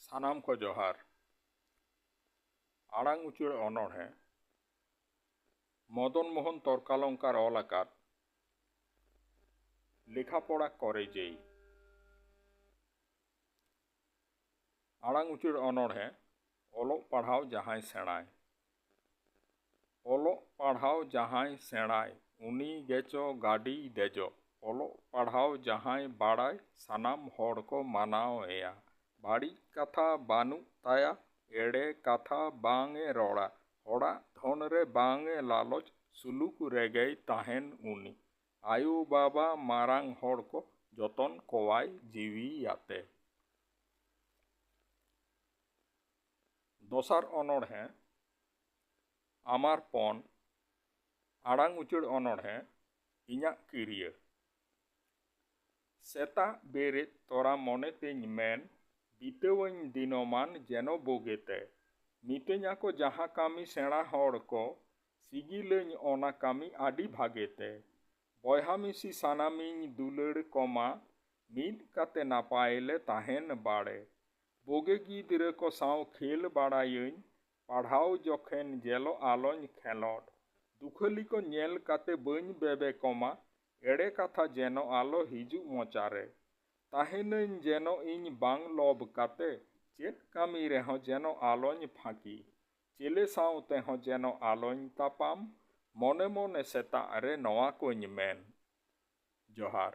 ᱥᱟᱱᱟᱢ ᱠᱚ ᱡᱚᱦᱟᱨ ᱟᱲᱟᱝ ᱩᱪᱟᱹᱲ ᱚᱱᱚᱬᱦᱮᱸ ᱢᱚᱫᱚᱱ ᱢᱳᱦᱚᱱ ᱛᱚᱨᱠᱟᱞᱚᱝᱠᱟᱨ ᱚᱞ ᱟᱠᱟᱫ ᱞᱮᱠᱷᱟ ᱯᱚᱲᱟ ᱠᱚᱨᱮ ᱡᱮᱭ ᱟᱲᱟᱝ ᱩᱪᱟᱹᱲ ᱚᱱᱚᱬᱦᱮ ᱚᱞᱚᱜ ᱯᱟᱲᱦᱟᱣ ᱡᱟᱦᱟᱸᱭ ᱥᱮᱬᱟᱭ ᱚᱞᱚᱜ ᱯᱟᱲᱦᱟᱣ ᱡᱟᱦᱟᱸᱭ ᱥᱮᱬᱟᱭ ᱩᱱᱤ ᱜᱮᱪᱚ ᱜᱟᱹᱰᱤᱭ ᱫᱮᱡᱚᱜ ᱚᱞᱚᱜ ᱯᱟᱲᱦᱟᱣ ᱡᱟᱦᱟᱸᱭ ᱵᱟᱲᱟᱭ ᱥᱟᱱᱟᱢ ᱦᱚᱲ ᱠᱚ ᱢᱟᱱᱟᱣ ᱮᱭᱟ ᱵᱟᱹᱲᱤᱡ ᱠᱟᱛᱷᱟ ᱵᱟᱹᱱᱩᱜ ᱛᱟᱭᱟ ᱮᱲᱮ ᱠᱟᱛᱷᱟ ᱵᱟᱝ ᱮ ᱨᱚᱲᱟ ᱦᱚᱲᱟᱜ ᱫᱷᱚᱱ ᱨᱮ ᱵᱟᱝ ᱮ ᱞᱟᱞᱚᱪ ᱥᱩᱞᱩᱠ ᱨᱮᱜᱮᱭ ᱛᱟᱦᱮᱱ ᱩᱱᱤ ᱟᱭᱳ ᱵᱟᱵᱟ ᱢᱟᱨᱟᱝ ᱦᱚᱲ ᱠᱚ ᱡᱚᱛᱚᱱ ᱠᱚᱣᱟᱭ ᱡᱤᱣᱤ ᱭᱟᱛᱮ᱾ ᱫᱚᱥᱟᱨ ᱚᱱᱚᱬᱦᱮ, ᱟᱢᱟᱨ ᱯᱚᱱ, ᱟᱲᱟᱝ ᱩᱪᱟᱹᱲ ᱚᱱᱚᱬᱦᱮ, ᱤᱧᱟᱜ ᱠᱤᱨᱭᱟᱹ᱾ ᱥᱮᱛᱟᱜ ᱵᱮᱨᱮᱫ ᱛᱚᱨᱟ ᱢᱚᱱᱮ ᱛᱤᱧ ᱢᱮᱱ ᱵᱤᱛᱟᱹᱣᱟᱹᱧ ᱫᱤᱱᱚᱢᱟᱱ ᱡᱮᱱᱚ ᱵᱳᱜᱮᱛᱮ᱾ ᱢᱤᱛᱟᱹᱧᱟᱠᱚ ᱡᱟᱦᱟᱸ ᱠᱟᱹᱢᱤ ᱥᱮᱬᱟ ᱦᱚᱲ ᱠᱚ ᱥᱤᱜᱤᱞᱟᱹᱧ ᱚᱱᱟ ᱠᱟᱹᱢᱤ ᱟᱹᱰᱤ ᱵᱷᱟᱜᱮ ᱛᱮ᱾ ᱵᱚᱭᱦᱟ ᱢᱤᱥᱤ ᱥᱟᱱᱟᱢᱤᱧ ᱫᱩᱞᱟᱹᱲ ᱠᱚᱢᱟ ᱢᱤᱫ ᱠᱟᱛᱮ ᱱᱟᱯᱟᱭ ᱞᱮ ᱛᱟᱦᱮᱱ ᱵᱟᱲᱮ ᱵᱳᱜᱮ ᱜᱤᱫᱽᱨᱟᱹ ᱠᱚ ᱥᱟᱶ ᱠᱷᱮᱞ ᱵᱟᱲᱟᱭᱟᱹᱧ ᱯᱟᱲᱦᱟᱣ ᱡᱚᱠᱷᱮᱱ ᱡᱮᱞᱚ ᱟᱞᱚᱧ ᱠᱷᱮᱞᱚᱰ ᱫᱩᱠᱷᱟᱹᱞᱤ ᱠᱚ ᱧᱮᱞ ᱠᱟᱛᱮ ᱵᱟᱹᱧ ᱵᱮᱵᱮ ᱠᱚᱢᱟ ᱮᱲᱮ ᱠᱟᱛᱷᱟ ᱡᱮᱱᱚ ᱟᱞᱚ ᱦᱤᱡᱩᱜ ᱢᱚᱪᱟ ᱨᱮ ᱛᱟᱦᱮᱱᱟᱹᱧ ᱡᱮᱱᱚ ᱤᱧ ᱵᱟᱝ ᱞᱚᱵᱽ ᱠᱟᱛᱮ ᱪᱮᱫ ᱠᱟᱹᱢᱤ ᱨᱮᱦᱚᱸ ᱡᱮᱱᱚ ᱟᱞᱚᱧ ᱯᱷᱟᱸᱠᱤ ᱪᱤᱞᱤ ᱥᱟᱶ ᱛᱮᱦᱚᱸ ᱡᱮᱱᱚ ᱟᱞᱚᱧ ᱛᱟᱯᱟᱢ᱾ ᱢᱚᱱᱮ ᱢᱚᱱᱮ ᱥᱮᱛᱟᱜ ᱨᱮ ᱱᱚᱣᱟ ᱠᱚᱧ ᱢᱮᱱ᱾ ᱡᱚᱦᱟᱨ᱾